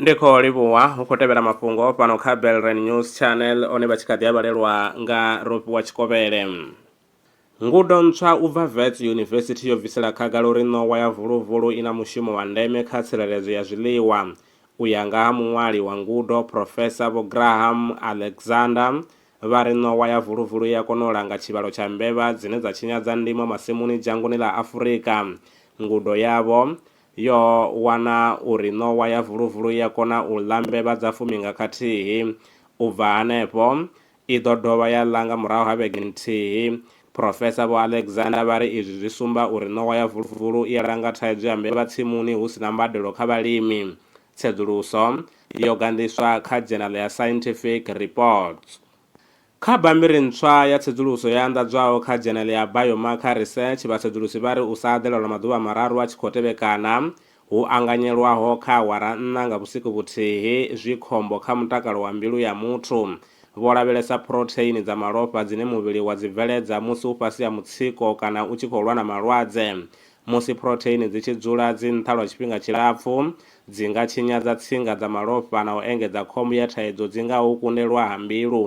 ndi khou livhuwa hu khou tevhela mafhungo fhano kha belren news channel one vha tshi kha ḓi a vhalelwa nga ropiwa tshikovhele ngudo ntswa u bva vets yunivesithi yo bvisela khagala uri ṋowa ya vuluvulu i na mushumo wa ndeme kha tsireledzo ya zwiḽiwa u ya nga ha muṅwali wa ngudo profesa vho graham alexander Vha ri ṋowa ya vuluvulu i a kona u langa tshivhalo tsha mbevha dzine dza tshinyadza ndimo masimuni dzhangoni ḽa Afurika. Ngudo yavho yo wana uri ṋowa ya vuluvulu i a kona u ḽa mbevha dza fumi nga khathihi. U bva hanefho, i ḓo dovha ya ḽa nga murahu ha vhege nthihi. Phurofesa Vho Alexander vha ri izwi zwi sumba uri ṋowa ya vuluvulu i a langa thaidzo ya mbevha tsimuni hu si na mbadelo kha vhalimi. Tsedzuluso yo ganḓiswa kha dzhenala ya Scientific Reports. Kha bammbiri ntswa ya tsedzuluso yo anḓadzwaho kha dzhenele ya Biomarker Research, vhasedzulusi vha ri u sa aḓela lwa maḓuvha mararu a tshi khou tevhekana hu anganyelwaho kha awara nṋa nga vhusiku vhuthihi zwi khombo kha mutakalo wa mbilu ya muthu. Vho lavhelesa phurotheini dza malofha dzine muvhili wa dzi bveledza musi u fhasi ha mutsiko kana u tshi khou lwa na malwadze. Musi phurotheini dzi tshi dzula dzi nṱha lwa tshifhinga tshilapfu, dzi nga tshinyadza tsinga dza malofha na u engedza khombo ya thaidzo dzi ngaho u kundelwa ha mbilu.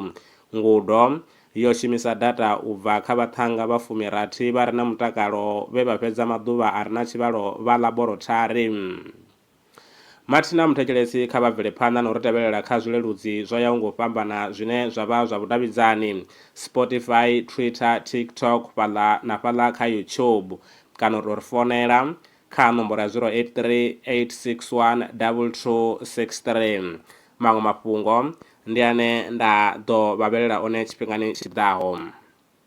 Ngudo, yo shumisa data u bva kha vhaṱhannga vha fumi-rathi vha re na mutakalo vhe vha fhedza maḓuvha a re na tshivhalo vha ḽaborothari. Mathina muthetshelesi kha vha bvele phanḓa na u ri tevhelela kha zwileludzi zwo yaho ngo fhambana zwine zwa vha zwa vhudavhidzani, Spotify, Twitter, TikTok, fhaḽa na fhaḽa kha YouTube. Kana u tou ri founela kha nomboro ya 083 861 2263. Maṅwe mafhungo ndi ane nda ḓo vha vhelela one tshifhingani tshi ḓaho.